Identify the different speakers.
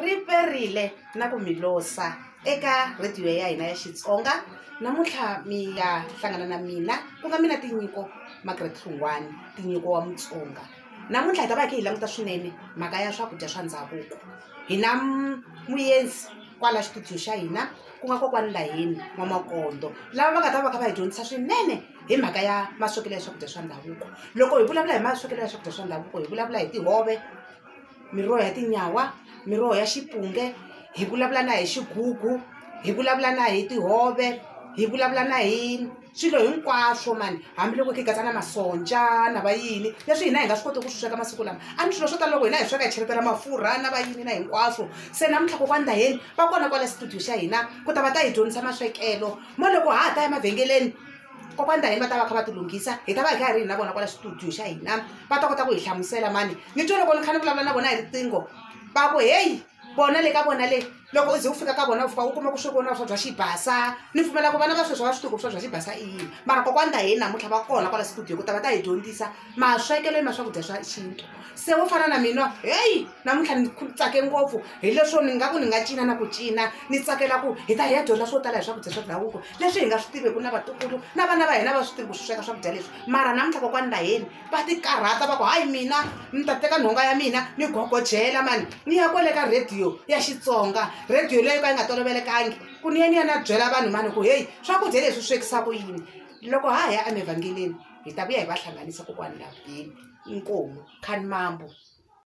Speaker 1: Ri perile na ku mi losa eka rhediyo ya hina ya Xitsonga. Namuntlha mi ya hlangana na mina ku nga mina Tinyiko Margaret Hlungwani, Tinyiko wa Mutsonga. Namuntlha hi ta va hi kha hi languta swinene mhaka ya swakudya swa ndhavuko. Hi na muendzi kwala xitudiyo xa hina ku nga kokwani Laheni N'wamakondo lava va nga ta va kha va hi dyondzisa swinene hi mhaka ya maswekelo ya swakudya swa ndhavuko. Loko hi vulavula hi maswekelo ya swakudya swa ndhavuko hi vulavula hi tihove. miroho ya tinyawa miroho ya xipunge hi vulavula na hi xigugu hi vulavula na hi tihove hi vulavula na hi swilo hinkwaswo mani hambiloko hi katsa na masonja na va yini leswi hina hi nga swi koti ku swi sweka masiku lama a ni swilo swo tala loko hina hi sweka hi cheletela mafurha na va yini na hinkwaswo se namuntlha kokwani ndaheni va kona kwala studio xa hina ku ta va ta hi dyondzisa maswekelo mo loko ha ha ta ya emavhengeleni kokwani ta hina va ta va kha va tilunghisa hi ta va hi kha hi ri hi na vona kwala xitudiyo xa hina va ta kota ku hi hlamusela mani ni twe loko ni kha ni vulavula na vona hi riqingho va ku heyi bona le ka bona le loko u ze u fika ka vona u fika u kuma ku swekona swa bya xibasa ni pfumela ku vana va sweswi va swi tiku swa bya xibasa i yini mara kokwani ta hina namuntlha va kona kwala studio ku ta va ta hi dyondzisa maswekelo ni ma swakudya swa xintu se wo fana na mina heyi namuntlha ni tsake ngopfu hi leswo ni nga ku ni nga cina na ku cina ni tsakela ku hi ta hi ya dyondza swo tala hi swakudya swa ndhavuko leswi hi nga swi tiveku na vatukulu na vana va hina va swi tivi ku swi sweka swakudya leswi mara namuntlha kokwani laheni va ti karhata va ku hayi mina ni ta teka nhonga ya mina ni gogojela mani ni ya kwele ka rhediyo ya xitsonga rhediyo leyo ka yi nga tolovelekangi ku ni ya ni ya na byela vanhu mani ku heyi swakudya leswi swekisa ku yini loko ha ya emevhangeleni hi ta vuya hi va hlanganisa kokwani lavheni inkomu khani mambo